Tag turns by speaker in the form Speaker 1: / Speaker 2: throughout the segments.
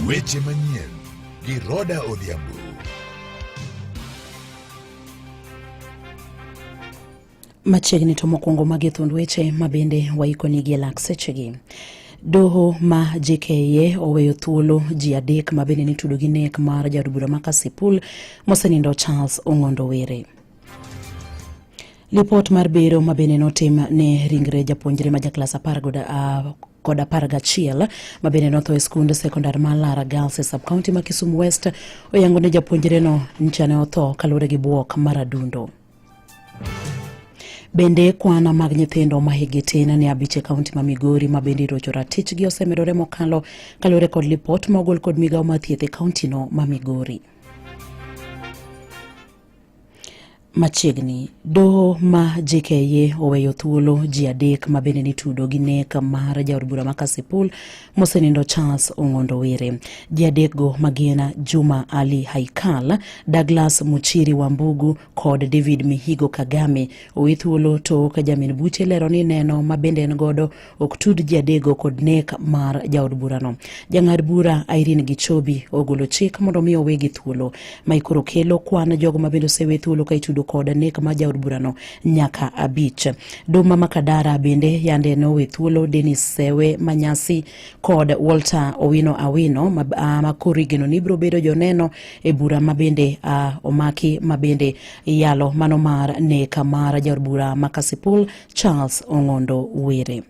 Speaker 1: Weche manyien gi Roda Odhiambo.
Speaker 2: Machiegni to mokwongo magi thund weche ma bende waikoni gi lak sechegi. Doho ma JKIA oweyo thuolo ji adek ma bende nitudo gi nek mar jaod bura ma Kasipul mosenindo Charles Ong'ondo Were. Lipot mar bero ma bende notim ne ringre japuonjre ma jaklas apar kod ah, kod apar gachiel ma bende notho e skund sekondar ma Lara Girls e subcounty ma Kisumu West oyango ne japuonjreno ncha ne otho kaluwore gi bwok mar adundo. Bende kwana mag nyithindo ma higi tin ne abich e kaunti ma Migori ma bende irocho ratichgi osemedore mokalo kaluwore kod lipot ma ogol kod migawo ma thieth e kauntino ma Migori. Machiegni, doho ma JKIA oweyo thuolo ji adek ma bende nitudo gi nek mar jaod bura ma Kasipul mosenindo Charles Ong'ondo Were. Ji adekgo ma gin Juma Ali Haikal, Douglas Muchiri Wambugu kod David Mihigo Kagame owe thuolo tok jamin buche lero ni neno ma bende en godo ok tud ji adego kod nek mar jaod burano. Jang'ad bura Irene Gichobi ogolo chik mondo mi owe gi thuolo ma ikoro kelo kwan jogo ma bende osewe thuolo ka itudo kod nek mar jaod burano nyaka abich. Duma Makadara bende yande ne owe thuolo Dennis Sewe Manyasi kod Walter Owino Awino ma, uh, ma koro igeno ni biro bedo joneno e bura ma bende uh, omaki ma bende iyalo mano mar nek mar jaod bura ma Kasipul Charles Ong'ondo Were.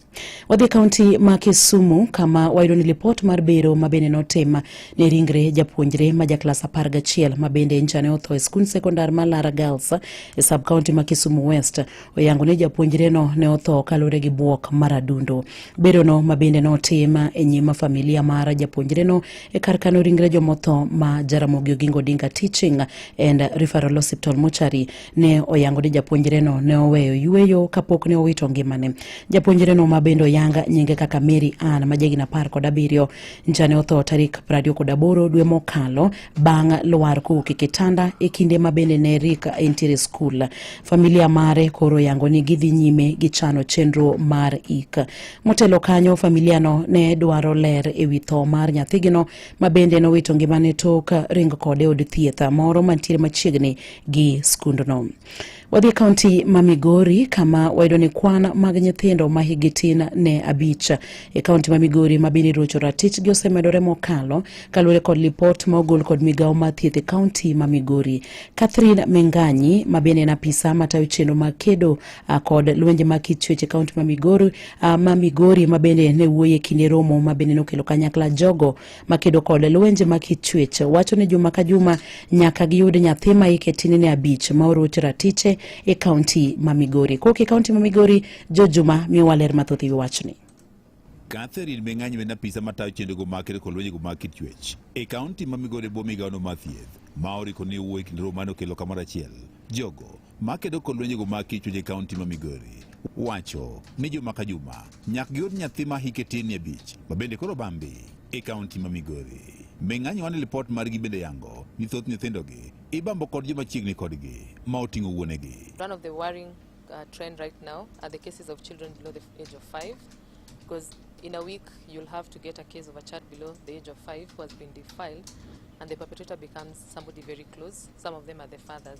Speaker 2: Wadhi e kaunti ma Kisumu kama wayudo ni lipot mar bero ma bende notim ne ringre japuonjre ma jaklas apar gachiel ma bende njane otho e skund sekondar ma Lara Girls e sub kaunti ma Kisumu West oyango ni japuonjreno ne otho kaluwore gi buok mar adundo. Berono ma bende notim e nyima familia mar japuonjreno e kar kano ringre jomotho ma Jaramogi Oginga Odinga Teaching and Referral Hospital Mochari ne oyango ni japuonjreno ne oweyo yueyo kapok ne owito ngimane. Japuonjreno ma bende oyanga nyinge kaka Mary Ann ma jahigni apar kod abiriyo ncha ne otho tarik prariyo kod aboro dwe mokalo bang' lwar kowuok e kitanda e kinde ma bende ne Rick entiere skul. Familia mare koro oyango ni gidhi nyime gi chano chenro mar ik. Motelo kanyo, familiano ne dwaro ler e wi tho mar nyathigino ma bende nowito ngimane tok ring kode od thieth moro mantiere machiegni gi skundno. Wadhi e kaunti ma Migori kama wayudo ni kwan mag nyithindo ma higi tin ne abich e kaunti ma Migori ma bende rocho ratichgi osemedore mokalo kaluwore kod lipot ma ogol kod migawo ma thieth e kaunti ma Migori. Catherine Menganyi ma bende en apisa matayo chenro mag kedo kod lwenje mag kit chuech e kaunti ma Migori ma bende ne wuoye kinde romo ma bende nokelo kanyakla jogo makedo kod lwenje ma kichwech wacho ni juma ka juma nyaka giyud nyathi ma hike tinene abich ma oroch ratiche e kaunti ma Migori. Kok e kaunti ma Migori, Jo Juma miyowa ler mathoth e wi wachni. Catherine
Speaker 3: Meng'anyo en apisa matayo chenrogo mag kedo kod lwenjego mag kichwech e kaunti ma Migori e bwo migawono mar thieth ma oriko ni owuo e kind romo mane okelo kamoro achiel jogo makedo kod lwenjego mag kichwech e kaunti ma Migori wacho ni juma ka juma nyaka giyud nyathi ma hike tin abich ma bende koro bambi e kaunti ma Migori. Ming'anyo wan lipot margi bende yango ni thoth nyithindogi ibambo kod joma chiegni kodgi ma oting'o wuonegi. One of the worrying
Speaker 4: uh, trend right now are the cases of children below the age of five because in a week you'll have to get a case of a child below the age of five who has been defiled and the perpetrator becomes somebody very close. Some of them are the fathers.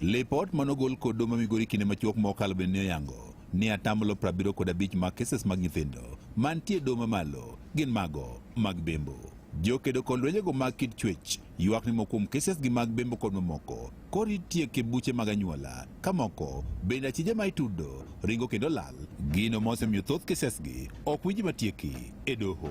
Speaker 5: Lipot
Speaker 3: manogol kod doho ma Migori kinde machuok mokalo bende ne oyango ni atamlo 75 mag keses mag nyithindo mantie doho mamalo gin mago mag bembo. Jokedo kod lwenjego mag kit chuech ywak ni moko kuom keses gi mag bembo kod mamoko koro itieko e buche mag anyuola ka moko bende achije ma itudo ringo kendo lal gino ma osemiyo thoth kesesgi ok winji matieki e doho.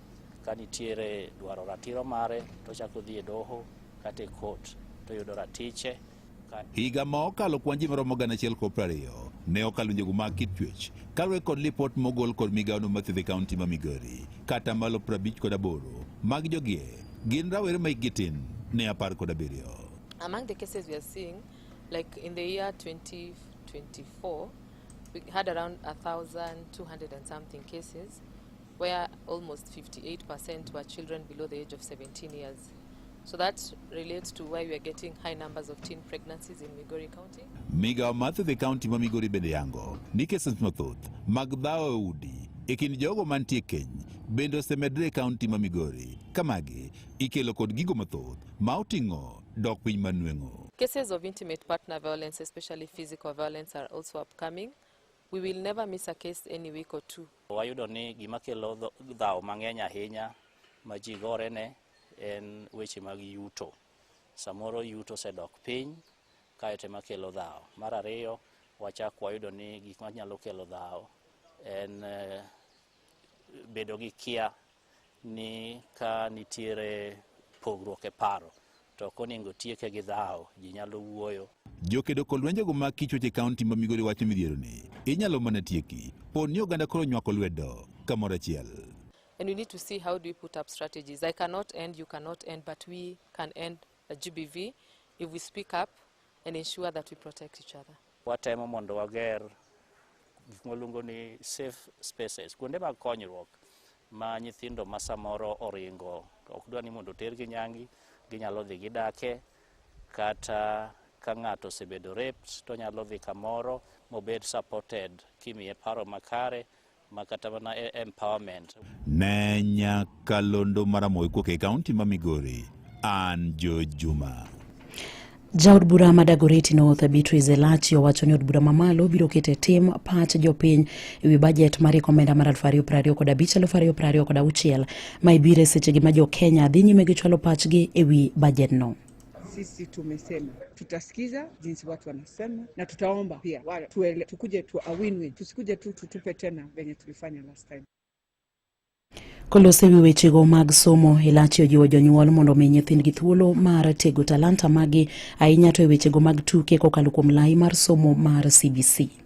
Speaker 5: Ka nitiere dwaro ratiro mare to chako dhi e doho kata e kot to yudo ratiche. Higa ma
Speaker 3: okalo kwan ji maromo gana achiel kod prariyo ne okalo njogu mag kit chwech kaluwore kod lipot mogol kod migawono mathiedhe kaunti ma Migori kata malo prabich kod aboro mag jogie gin rawere ma hikgi tin ne apar kod abiriyo. Among the
Speaker 4: cases we are seeing like in the year 2024 we had around 1200 and something cases where almost 58% were children below the age of 17 years. So that relates to why we are getting high numbers of teen pregnancies in Migori County. Migawo mar thieth e
Speaker 3: kaunti ma Migori bende yango ni cases mathoth mag dhawo e udi e kind jogo mantie keny bende osemedre e kaunti ma Migori ka magi ikelo kod gigo mathoth ma oting'o dok piny manweng'o. Cases of intimate
Speaker 4: partner violence, especially physical violence, are also upcoming. We will never miss a case any week or two. Wayudo ni gima
Speaker 5: kelo dhawo mang'eny ahinya ma ji gore ne en weche mag yuto. Samoro yuto osedok piny kaeto ema kelo dhawo. Mar ariyo, wachak wayudo ni gik manyalo kelo dhawo en eh, bedo gi kia ni ka nitiere pogruok e paro to ok onego tieke gi dhawo ji nyalo wuoyo jokedo kod lwenjego
Speaker 3: mag kichwech e kaunti ma migori wacho midhiero ni inyalo mana tieki pod ni oganda koro nywako lwedo kamoro achiel And we need to
Speaker 4: see how do we put up strategies. I cannot end, you cannot end, but we can end a GBV if we speak up and ensure that we protect each other. Watemo mondo
Speaker 5: wager gik mwaluongo ni safe spaces, kuonde mag konyruok ma nyithindo ma samoro oringo to ok dwa ni mondo otergi nyangi, ginyalo dhi gidake kata ka ng'ato osebedo raped to onyalo dhi kamoro mobed supported kimiye paro makare ma kata mana e- empowerment Ne
Speaker 3: nyakalondo maramoe kuok e kaunti ma Migori, an Jo Juma. Jaod
Speaker 2: bura ma Dagoretti North Beatrice Elachi owacho ni od bura mamalo biro keto e tim pach jopiny e wi bajet mar rieko omenda mar 2025 kod 2026 ma ibiro e sechegi ma jo Kenya dhi nyime gi chwalo pachgi e wi bajedno. Sisi
Speaker 6: tumesema tutasikiza jinsi watu wanasema, na tutaomba pia wale tuele, tukuje tu a win-win, tusikuje tu tutupe tena venye tulifanya last time.
Speaker 2: Kolose wi wechego mag somo Elachi ojiwo jonyuol mondo omi nyithindgi thuolo mar tego talanta magi ahinya to e wechego mag tuke kokalo kuom lai mar somo mar CBC.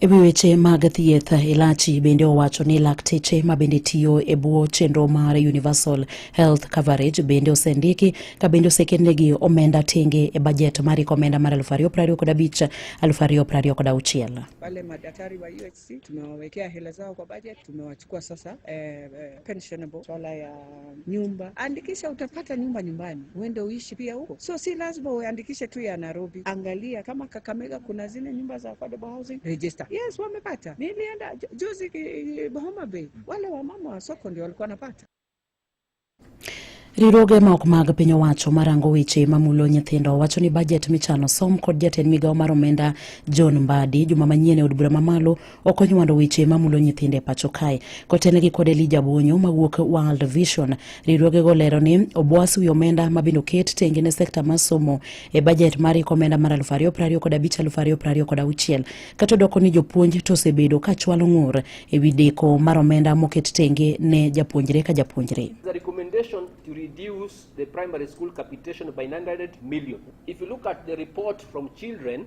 Speaker 2: E wi weche mag thieth, Elachi bende owacho ni lakteche ma bende tiyo e bwo chenro mar Universal Health Coverage bende osendiki ka bende oseketnegi omenda tenge e bajet mar omenda mar 2025 2026. Wale madaktari
Speaker 6: wa UHC tumewawekea hela zao kwa budget, tumewachukua sasa eh, eh, pensionable swala ya nyumba, andikisha, utapata nyumba nyumbani, uende uishi pia huko. So si lazima uandikishe tu ya Nairobi, angalia kama Kakamega kuna zile nyumba za affordable housing register. Yes, wamepata. Nilienda ju- juzi ki- Homa Bay, wale wamama wa soko ndio walikuwa wanapata.
Speaker 2: Riwruoge ma ok mag piny owacho marango weche mamulo nyithindo wacho ni bajet michano som kod jatend migawo mar omenda John Mbadi juma manyien e od bura mamalo ok onywando weche mamulo nyithindo e pacho kae kotenegi kod elija bonyo mawuok world vision riwruogego lero ni obwas wi omenda mabende oket tenge ne sekta mar somo e bajet mar iko omenda mar 2025 kod 2026 kata odoko ni jopuonj to osebedo ka chwalo ng'ur e wi deko mar omenda moket tenge ne japuonjre ka japuonjre to
Speaker 7: reduce the primary school capitation by 900 million. If you look at the report from children,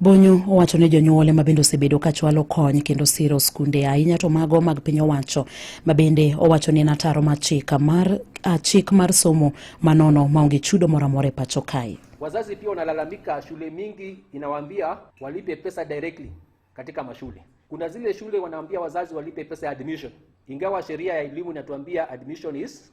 Speaker 2: Bonyo owacho ni jonyuole ma bende osebedo ka chwalo kony kendo siro skunde ahinya to mago mag piny owacho ma bende owacho ni en ataro mar chik mar, ah, chik mar somo manono maonge chudo moro amora e pacho kae. Wazazi pia
Speaker 7: wanalalamika, shule mingi inawaambia walipe pesa directly katika mashule. Kuna zile shule wanaambia wazazi walipe pesa ya admission, ingawa sheria ya elimu inatuambia admission is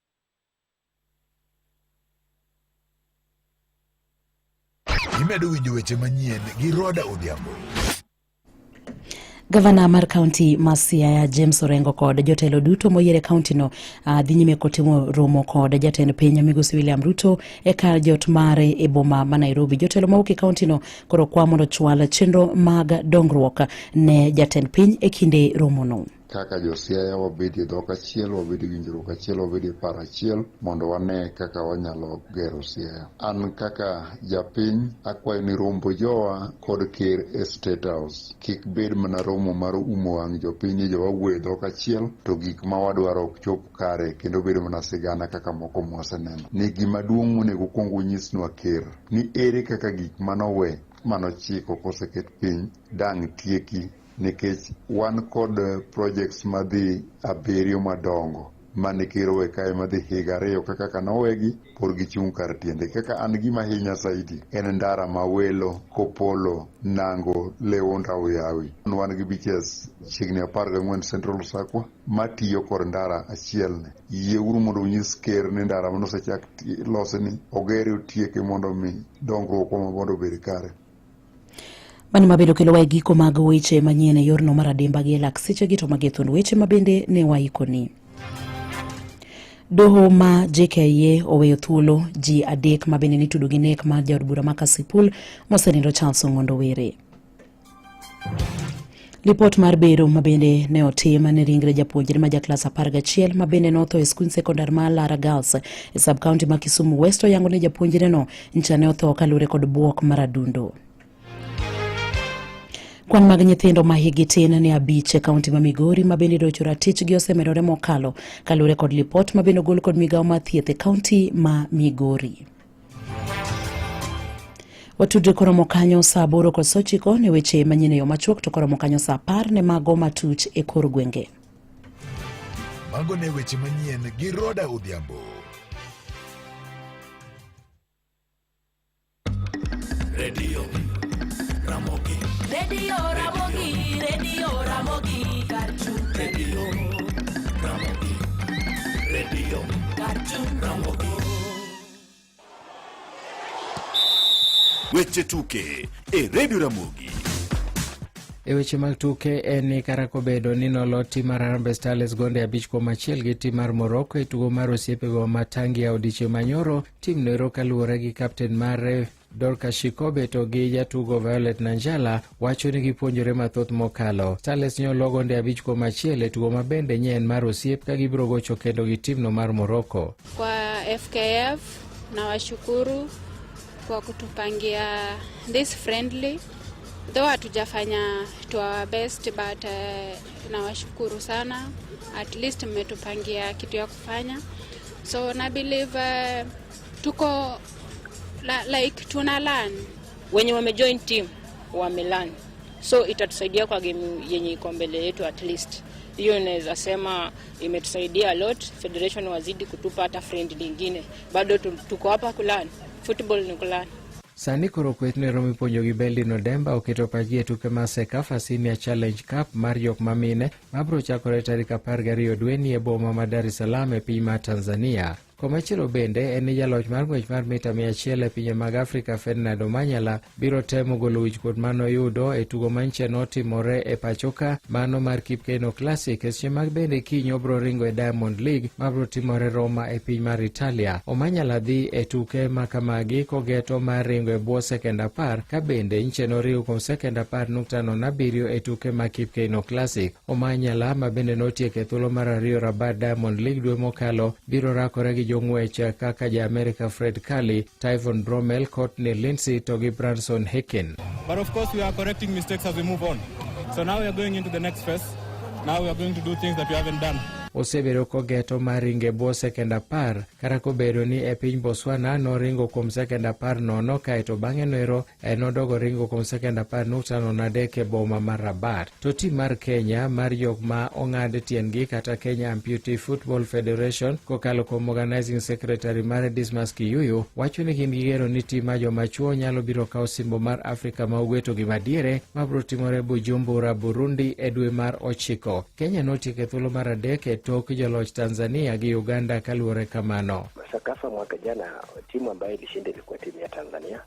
Speaker 1: Imedo winjo weche manyien gi Roda Odhiambo.
Speaker 2: Gavana mar kaunti ma Siaya James Orengo kod jotelo duto moyier e kauntino uh, dhi nyime kotimo romo kod jatend piny Migosi William Ruto e kar jot mare e boma ma Nairobi. Jotelo mawuok e kauntino koro kwa mondo chwal chenro mag dongruok ne jatend piny e kinde romono. kaka josiaya
Speaker 8: wabedie dhok achiel wabed winjruok achiel wabedie paro achiel mondo wane kaka wanyalo gero siaya an kaka japiny akwayo ni rombo jowa kod ker e state house kik bed mana romo mar umo wang' jopiny ni jowawuoye dhok achiel to gik ma wadwaro ok chop kare kendo bedo mana sigana kaka moko mwaseneno ni gima duong' monego kwong unyisnwa ker ni ere kaka gik manowe manochiko koseket piny dang' tieki nikech wan kod projects madhi abiriyo madongo mane kirowe kae madhi higa ariyo kaka kaka nowegi pod gichung' kar tiende kaka an gima hinya saidi en ndara ma welo kopolo nango leonda oyawi wan gi beaches chiegni apar gang'wen central sakwa matiyo kod ndara achielni yie uru mondo unyis ker ni ndara mane osechak ti- losni ogere otieke mondo mi dongruok wa mondo obed kare
Speaker 2: Mani mabedo kelo wae giko mag weche manyien e yorno mar adimba gi elak seche gi to mage thuond weche mabende ne waikoni. Doho ma JKIA oweyo thuolo ji adek mabende nitudo gi nek mar jaod bura ma Kasipul mosenindo Charles Ong'ondo Were. Lipot mar bero ma bende ne otim ne ringre japuonjre ma jaklas apar gachiel ma bende notho e skund sekondar ma Lara Girls e sub county ma Kisumu West oyango ni japuonjreno ncha ne otho kaluwore kod buok mar adundo. Kwan mag nyithindo ma higi tin ni abich e kaunti ma Migori ma bende docho ratichgi osemedore mokalo kaluwore kod lipot ma bende ogol kod migawo mar thieth e kaunti ma Migori. Watudre koromo kanyo saa aboro kod sochiko ne weche manyien e yo machuok to koromo kanyo saa apar ne mago matuch e kor gwenge.
Speaker 1: Mago ne weche manyien gi Roda Odhiambo.
Speaker 9: Radio Ramogi. Radio Ramogi, Radio Ramogi, Garchu. Radio Ramogi. Radio Garchu Ramogi. Weche tuke e Redio Ramogi.
Speaker 10: E weche mag tuke en ni kara kobedo ni nolo tim mar Harambee Starlets gonde abich kuom achiel gi tim mar Morocco e tugo mar osiepego ma Tangia odiechieng' manyoro, tim noero kaluwore gi kapten mare Dorcas Shikobe to gi jatugo Violet Nanjala wacho ni gipuonjore mathoth mokalo. Starlets nyo logo nde abich kuom achiel e tugo ma bende nye en mar osiep ka gibiro gocho kendo gi timno mar Morocco. Kwa
Speaker 11: FKF na washukuru kwa kutupangia this friendly though hatujafanya to our best but uh, nawashukuru sana at least mmetupangia kitu ya kufanya so na believe uh, Tuko la, like tuna learn. Wenye wamejoin
Speaker 12: team wamelearn, so itatusaidia kwa game yenye iko mbele yetu at least hiyo inaweza sema imetusaidia a lot. Federation wazidi kutupa hata friend lingine, bado tuko hapa kulani football ni kulani Sani koro kweth
Speaker 10: ne romo ipuonjo gi Beldin Odemba oketo pachgi e tuke mar Sekafa Senior Challenge Cup mar jok ma mine mabiro chakore tarik apar gariyo dweni e boma ma Dar es Salaam e piny mar Tanzania. Komachielo bende en ni jaloch mar ng'wech mar mita 100 e pinje mag Afrika Ferdinand Omanyala biro temo golo wichkuot ma noyudo e tugo manche notimore e pachoka mano mar Kipkeino Classic e seche mag bende kiny obro ringo e Diamond League ma bro timore Roma e piny mar Italia. Omanyala dhi e tuke ma kamagi kogeto mar ringo e bwo sekend apar ka bende nche noriwo kuom sekend apar nukta nono abiriyo e tuke ma Kipkeino Classic. Omanyala ma bende notieko e thuolo mar ariyo Rabat Diamond League dwe mokalo biro rakore gi jong'wech kaka ja Amerika Fred Curley, Tyvon Bromel, Courtney Lindsay to gi Branson Hicken. But of course we are
Speaker 13: correcting mistakes as we move on. So now we are going into the next phase. Now we are going to do things that we haven't done. osebedo
Speaker 10: kogeto mar ringo e bwo sekend apar kata kobedo ni e piny Botswana noringo kuom sekend apar nono kaeto bang'e noero E, nodogo ringo kuom sekend apar nukta nono adek e boma mar Rabat. To tim mar Kenya mar jok ma ong'ad tiendgi kata Kenya Amputee Football Federation kokalo kuom Organizing Secretary mare Dismas Kiyuyu wacho ni gin gigero ni tim ma joma chuo nyalo biro kawo simbo mar Afrika ma ugwe to gima diere ma biro timore Bujumbura, Burundi e dwe mar ochiko. Kenya notieko e thuolo mar adek e tok joloch Tanzania gi Uganda kaluwore kamano. Sakafa mwaka
Speaker 13: jana timu ambayo ilishinda ilikuwa timu ya Tanzania.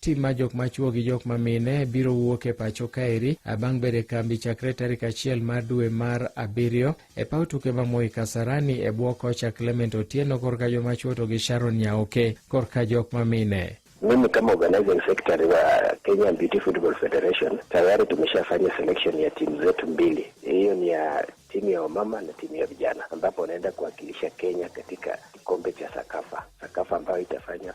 Speaker 13: tim ma jok machuo
Speaker 10: gi jok ma mine biro wuok e pacho kaeri bang' bedo e kambi chakre tarik achiel mar dwe mar abiriyo e paw tuke ma Moi Kasarani e bwo kocha Clement Otieno korka joma chuo to gi Sharon Nyaoke korka jok ma mine. Mimi kama organizing
Speaker 13: secretary wa Kenya Beauty Football Federation tayari tumeshafanya selection ya timu zetu mbili. Hiyo ni ya timu ya wamama na timu ya vijana, ambapo wanaenda kuwakilisha Kenya katika kikombe cha Sakafa, Sakafa ambayo itafanya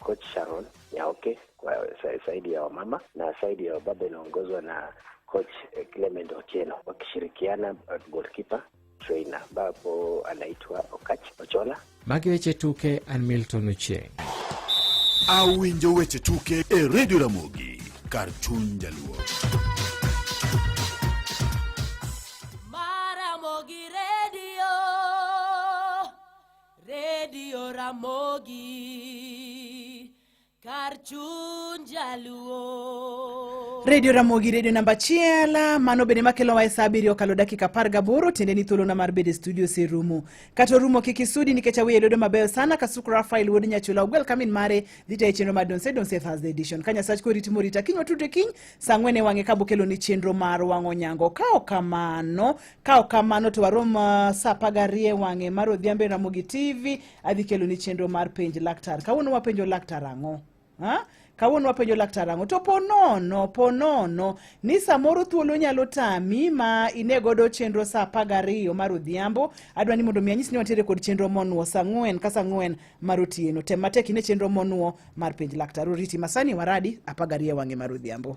Speaker 13: Coach Sharon Nyaoke kwa sa- saidi ya wamama na saidi ya wababa inaongozwa na coach eh, Clement Otieno wakishirikiana eh, goalkeeper trainer ambapo anaitwa Okach Ochola. Magi weche
Speaker 10: tuke an Milton Ochieng.
Speaker 9: Awinjo weche tuke e Radio Ramogi kar chuny jaluo.
Speaker 14: Redio Ramogi kar chuny jaluo. Redio Ramogi,
Speaker 15: redio namba achiel mano bende makelo wae saa abiriyo okalo dakika apar gaboro tiende ni thuolona mar bedo e studio serumo kata orumo kik isudi nikech aweye lwedo mabeyo sana kasuk Rafael wuod Nyachula ogwel kamin mare dhi tayo chenro mar Donse Donse Thursday edition ka Nyasach koriti morita kiny watudre kiny saa ang'wen e wang'e ka bokelo ni chenro mar wang'o nyango ka ok kamano Ka ok kamano to warom uh, sa apar gariyo e wang'e mar odhiambo e Ramogi TV adhi kelo ni chenro mar penj laktar. Kawuono wapenjo laktar ang'o? Ha? Kawuono wapenjo laktar ang'o? To po nono, po nono ni samoro thuolo nyalo tami ma ine godo chenro sa apar gariyo mar odhiambo. Adwa ni mondo mi anyis ni wantiere kod chenro monuo sa ang'wen ka sa ang'wen mar otieno. Tem matek ine chenro monuo mar penj laktar. Oriti masani waradi apar gariyo e wang'e mar odhiambo.